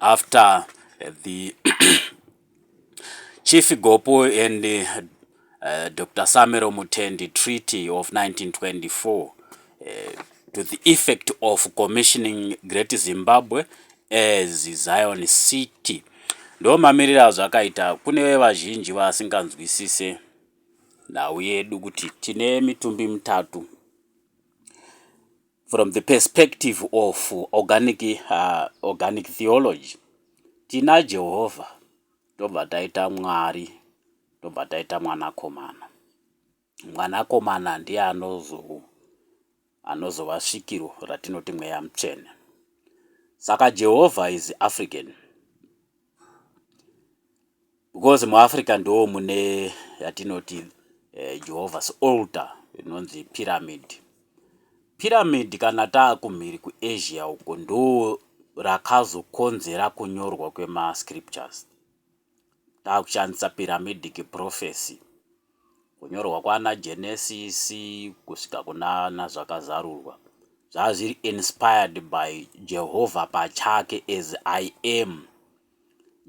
after the Chief Gopo and uh, uh Dr. Samero Mutendi Treaty of 1924 uh, to the effect of commissioning Great Zimbabwe as Zion City. Ndo mamiriro azvakaita kune vazhinji vasinganzwisise nhau yedu kuti tine mitumbi mitatu From the perspective of organic, uh, organic theology, tina Jehovha tobva taita Mwari tobva taita mwanakomana. Mwanakomana ndiye anozo anozova svikiro ratinoti mweya mutsvene. Saka Jehovha is African. because muAfrica ndoo mune yatinoti eh, Jehovah's altar inonzi pyramid. Pyramid kana taakumhiri kuAsia uko ndoo rakazokonzera kunyorwa kwemascriptures taakushandisa pyramidic prophecy. Kunyorwa kwana Genesisi kusvika kunana Zvakazarurwa zvanga zviri inspired by Jehovha pachake as I am.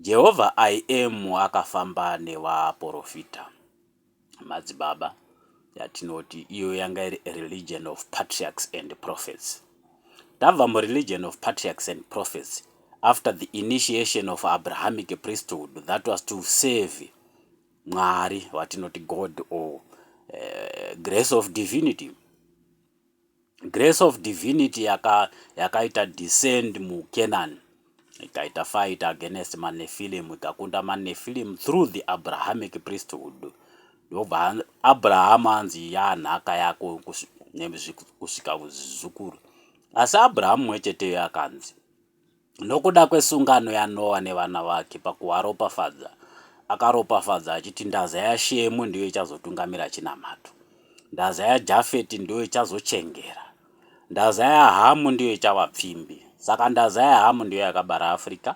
Jehovha I am akafamba nevaporofita, madzibaba, yatinoti iyo yanga iri religion of patriarchs and prophets. Tabva mureligion of patriarchs and prophets after the initiation of Abrahamic priesthood that was to save Mwari vatinoti God or uh, grace of divinity grace of divinity yaka yakaita descend mucanaan ikaita fight against manephilim ikakunda manephilim through the abrahamic priesthood ndobva abraham anzi yanhaka yako kusvika kuzvizukuru asi abraham mwecheteyo akanzi Nokuda kwesungano yaNoa nevana vake pakuvaropafadza, akaropafadza achiti, Ndaza yaShemu ndiyo ichazotungamira chinamato, ndaza yaJafeti ndiyo ichazochengera, ndaza yaHamu ndiyo ichava pfimbi. Saka ndaza yaHamu ndiyo yakabara Africa,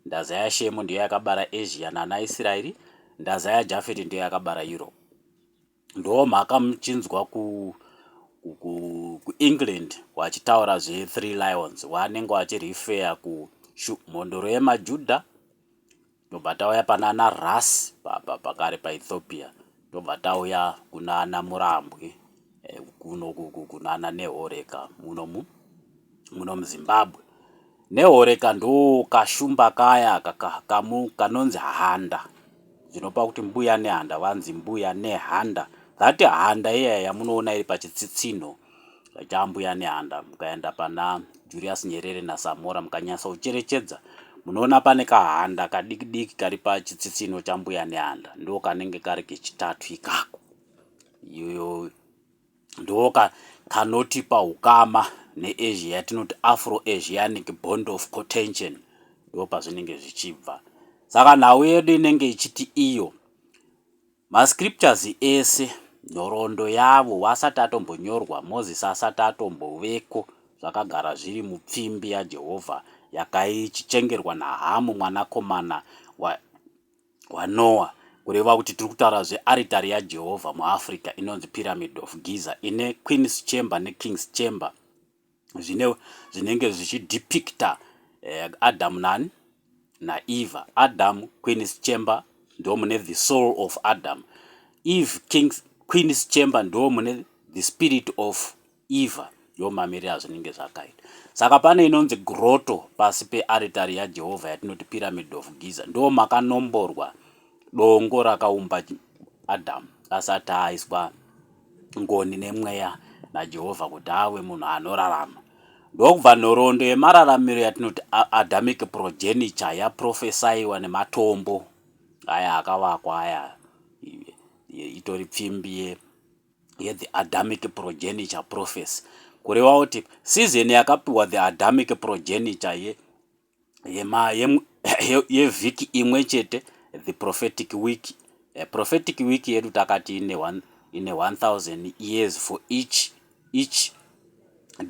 ndaza yaShemu ndiyo yakabara Asia nanaIsraeri, ndaza yaJafeti ndiyo yakabara Europe. Ndomhaka muchinzwa ku ku kuEngland wachitaura zveThree Lions wanenge wachireferer ku mhondoro yemaJuda tobva tauya panana Ras pakare paEthiopia tobva tauya kunana Murambwi kuno kunana Nehoreka muno mu muno muzimbabwe nehore kandoo kashumba kaya aka ka, kamu kanonzi handa zvinopa kuti mbuya nehanda vanzi mbuya nehanda that handa iya yamunoona iri pachitsitsinho chambuya nehanda mukaenda pana julius nyerere nasamora mukanyasa kucherechedza munoona pane kahanda kadiki diki kari pachitsitsinho chambuya nehanda ndo kanenge kari kechitatu ikako iyoyo Ndoka kanotipa hukama neAsia yatinoti Afro-Asianic Bond of Contention, ndopazvinenge zvichibva. Saka nhau yedu inenge ichiti iyo maScriptures ese, nhoroondo yavo asati atombonyorwa, Moses asati atomboveko, zvakagara zviri mupfimbi yaJehovha yakaichengerwa naHamu mwanakomana wa. hwaNoa, kureva kuti tiri kutaura zvearitari yaJehovha muAfrica inonzi Pyramid of Giza ine Queen's Chamber neKing's Chamber zvine zvinenge zvichidepicta eh, Adam nani naEva. Adam Queen's Chamber ndo mune the soul of Adam. Eve King's, Queen's Chamber ndo mune the spirit of Ivha, Yoo mamirire azvinenge zvakaita. Saka pane inonzi groto pasi pearitari yaJehovha yatinoti Pyramid of Giza. Ndoo makanomborwa dongo rakaumba Adhamu asati aiswa ngoni nemweya naJehovha kuti ave munhu anorarama. Ndokubva nhoroondo yemararamiro yatinoti Adamic progeniture yaprofesaiwa nematombo aya akavakwa aya itori pfimbi ye yethe Adamic progeniture prophecy kureva kuti season yakapiwa the Adamic progeniture ye yema yevhiki imwe chete the prophetic week uh, prophetic week yedu takati ine one ine 1000 years for each each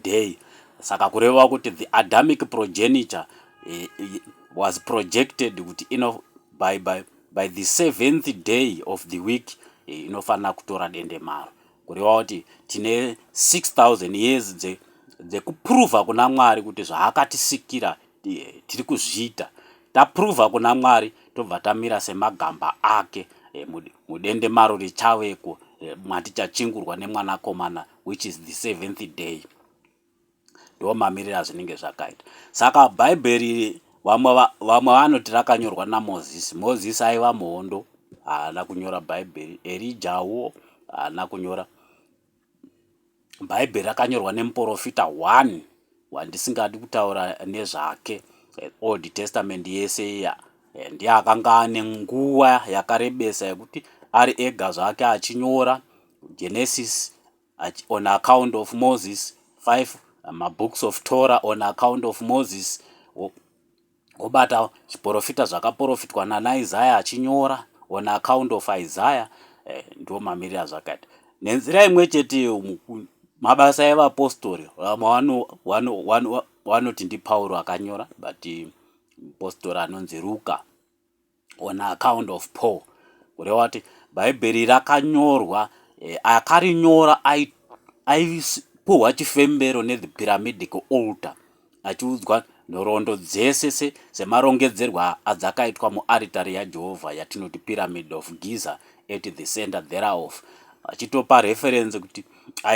Day saka kureva kuti the Adamic progeniture eh, eh, was projected kuti ino by, by, by the seventh day of the week eh, inofanira kutora dendemaro kureva kuti tine 6000 years dze dzekupruvha kuna mwari kuti zvaakatisikira eh, tiri kuzviita tapruvha kuna mwari tobva tamira semagamba ake eh, mud- mudendemaro richaveko eh, mwati chachingurwa nemwanakomana which is the seventh day ndo mamiriro azvinenge zvakaita saka bhaibheri vamwe vanoti rakanyorwa namozisi mozisi aiva muhondo haana kunyora bhaibheri erijawo haana kunyora bhaibheri rakanyorwa nemuprofita one wandisingadi kutaura nezvake eh, old testament yese iya eh, ndiye akanga ane nguva yakarebesa yekuti ari ega zvake achinyora Genesis on account of Moses 5 mabooks of Torah on account of Moses wobata chiporofita zvakaporofitwa nanaIsaya achinyora on account of Isaya eh, ndiwo mamiriro azvakaita nenzira imwe chete mabasa evapostori vanoti ndipauro akanyora but postori anonzi ruka on account of Paul kureva kuti bhaibheri rakanyorwa eh, akarinyora ai- aipuhwa chifembero nethe pyramidic altar achiudzwa nhoroondo dzese se- semarongedzerwo a- adzakaitwa muaritari yajehovha yatinoti pyramid of giza at the center thereof achitopa reference kuti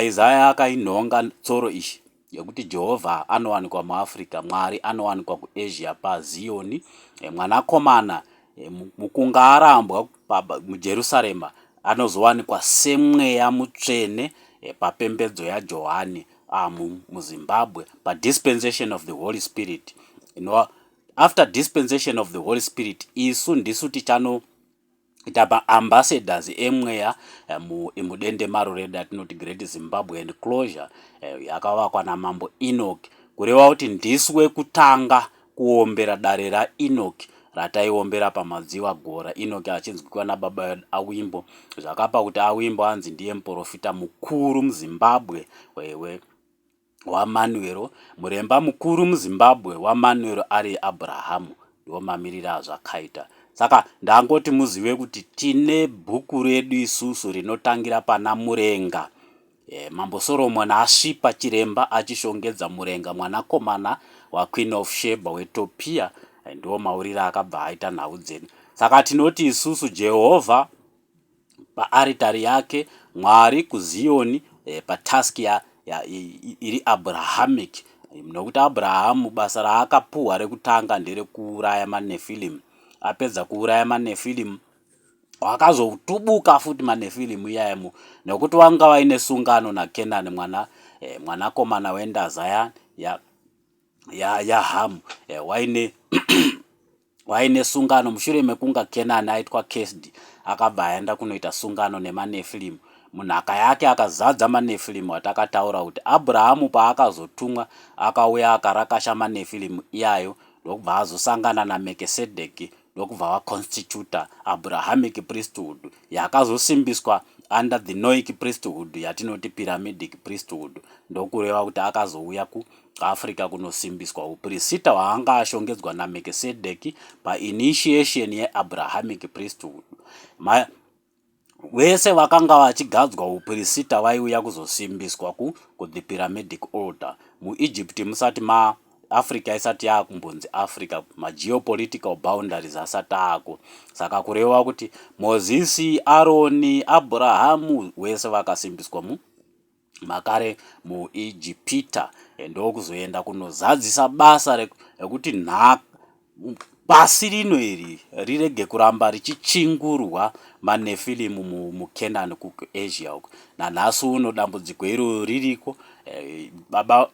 isaya akainhonga tsoro ichi yekuti Jehovha anowanikwa muAfrica, Mwari anowanikwa kuAsia paZioni, eh, Mwanakomana eh, mu- mukunga arambwa pa- pa- muJerusarema anozowanikwa semweya mutsvene eh, papembedzo yaJohani ah, mu- muZimbabwe padispensation of the Holy Spirit. Inova after dispensation of the Holy Spirit isu ndisu tichano Ita ma ambassadors emweya mu mudendemaro redu ratinoti Great Zimbabwe Enclosure eh, yakavakwa naMambo Enoch kureva kuti ndisu wekutanga kuombera dare ra Enoch rataiombera pamadziva gora Enoch achinzwikwa nababa vedu Awimbo zvakapa kuti Awimbo anzi ndiye muporofita mukuru muZimbabwe wewe waManuero, muremba mukuru muZimbabwe waManuero ari Abraham ndiwo mamirire azvakaita. Saka ndangoti muzive kuti tine bhuku redu isusu rinotangira pana Murenga. E, Mambo Solomon asvipa chiremba achishongedza Murenga mwanakomana waQueen of Sheba weTopia ndiwo maurira akabva aita nhau dzedu. Saka tinoti isusu Jehovha paaritari yake Mwari kuZiyoni eh, patask ya, ya, iri Abrahamic nokuti Abrahamu basa raakapuhwa rekutanga nderekuuraya maNefilimu. Apedza kuuraya maNefilimu wakazotubuka futi maNefilimu iyayemu nokuti wanga waine sungano naKenani mwana eh, mwanakomana wendaza ya, ya, ya, yaHamu eh, waine Waine sungano mushure mekunga Kenani aitwa cursed akabva aenda kunoita sungano nemaNefilimu. Munhaka yake akazadza maNefilimu atakataura kuti Abhurahamu paakazotumwa akauya akarakasha maNefilimu iyayo ndokubva azosangana naMekesedheki ndokubva vaconstituter Abrahamic priesthood yakazosimbiswa under the Noic priesthood yatinoti pyramidic priesthood ndokureva kuti akazouya ku Africa kunosimbiswa uprisita hwaanga ashongedzwa naMelchizedeki paInitiation yeAbrahamic Priesthood. Ma, vese vakanga vachigadzwa uprisita vaiuya kuzosimbiswa ku, kuThe Pyramidic Altar muEgypt musati ma Africa isati yaakumbonzi Africa, mageopolitical boundaries asati aako. Saka kureva kuti Mozisi, Aroni, Abrahamu vese vakasimbiswa mu, makare muIjipita ndokuzoenda kunozadzisa basa rekuti nhaka pasi rino iri rirege kuramba richitsvingurwa manefilimu mucanaan kuasia uko nanhasi uno dambudziko iroro ririko eh, baba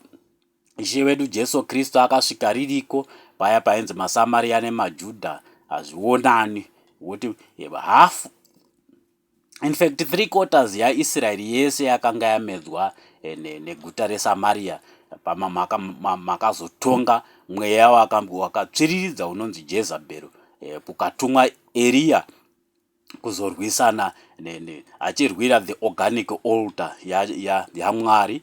ishe wedu jesu kristu akasvika ririko paya painzi masamaria nemajudha hazvionani woti hafu In fact, three quarters yaIsraeri yese yakanga yamedzwa eh, neguta reSamaria pamamhaka makazotonga mweya wakatsviriridza unonzi Jezabhero eh, kukatumwa Eria kuzorwisana achirwira the organic altar yaMwari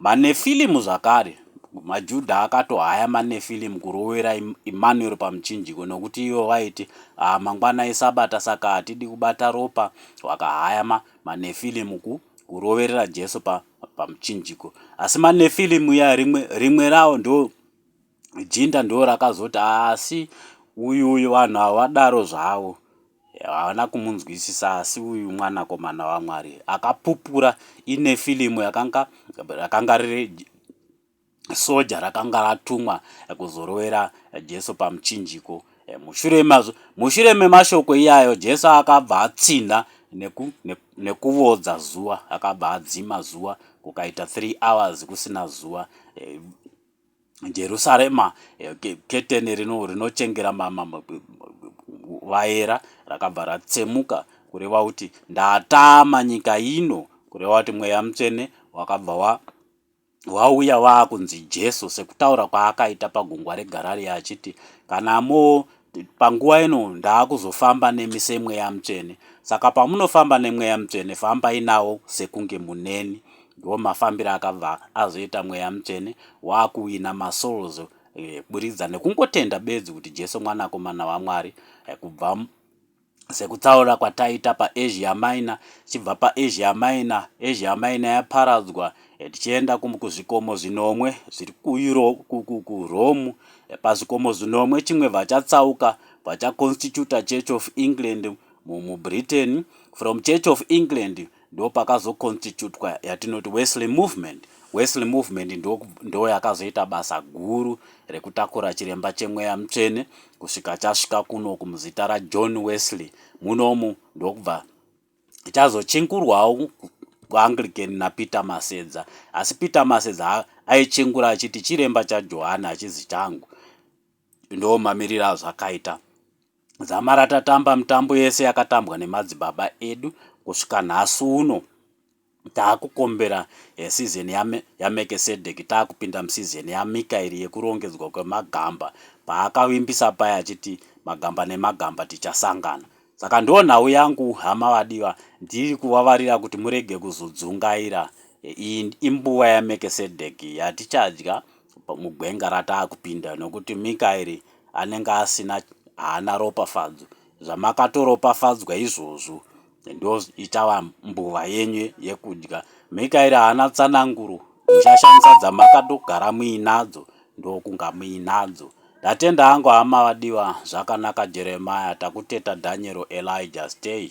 MaNefilimu zvakare, maJudha akatohaya maNefilimu kurovera Emmanuel pamuchinjiko nokuti ivo vaiti, Haa mangwana iSabata saka hatidi kubata ropa, vakahaya ma, maNefilimu ku, kuroverera Jesu pa, pamuchinjiko. Asi maNefilimu iya rimwe, rimwe rawo ndo, Jinda ndoo rakazoti asi uyu uyu vanhu avo vadaro zvavo havana kumunzwisisa asi uyu mwanakomana waMwari akapupura ine filimu yakanga rakanga riri soja rakanga ratumwa kuzorovera Jesu pamuchinjiko mushure mazvo mushure memashoko iyayo Jesu akabva atsinha neku, ne, nekuvodza zuva akabva adzima zuva kukaita 3 hours kusina zuva eh, Jerusarema eh, keteni rino rinochengera vaera rakabva ratsemuka kureva kuti ndatama nyika ino kureva kuti mweya mutsvene wakabva wa wauya waakunzi jesu sekutaura kwaakaita pagungwa regarari achiti kana mo Panguva ino ndaakuzofamba nemi semweya mutsvene. Saka pamunofamba nemweya mutsvene fambai nawo sekunge muneni. Ndiwo mafambiro akabva azoita mweya mutsvene waakuwina masouls eh, kuburikidza nekungotenda bedzi kuti Jesu mwanakomana waMwari eh, kubva Sekutsaurira kwataita paAsia Minor, tichibva paAsia Minor, Asia Minor yaparadzwa tichienda kuzvikomo zvinomwe zviri kuRome. Pazvikomo zvinomwe chimwe bva chatsauka bva chaconstituta Church of England muBritain. From Church of England ndopakazoconstitutwa yatinoti Wesley Movement. Wesley Movement ndoyakazoita basa guru rekutakura chiremba chemweya mutsvene kusvika chasvika kuno kumuzita raJohn Wesley. Munomu ndokubva chazochinkurwawo kuAnglican naPeter Masedza, asi Peter Masedza aichingura achiti chiremba chaJohani hachizi changu. Ndomamiriro azvakaita. Dzamara tatamba mitambo yese yakatambwa nemadzibaba edu kusvika nhasi uno taakukombera eh, season yame, yamekesedeki taakupinda museason yamikaeri yekurongedzwa kwemagamba paakavimbisa paya achiti magamba nemagamba tichasangana saka ndo nhau yangu hama vadiwa ndiri kuvavarira kuti murege kuzodzungaira eh, iyi imbuva yamekesedeki yatichadya mugwenga rataakupinda nokuti Mikaeri anenge asina haana ropafadzo zvamakatoropafadzwa izvozvo ndoichava mbuva yenyu yekudya Mikaeri haana tsananguro muchashandisa dzamakatogara muinadzo ndokunga muinadzo ndatenda hangu hama vadiwa zvakanaka Jeremiah takuteta Daniel Elijah stay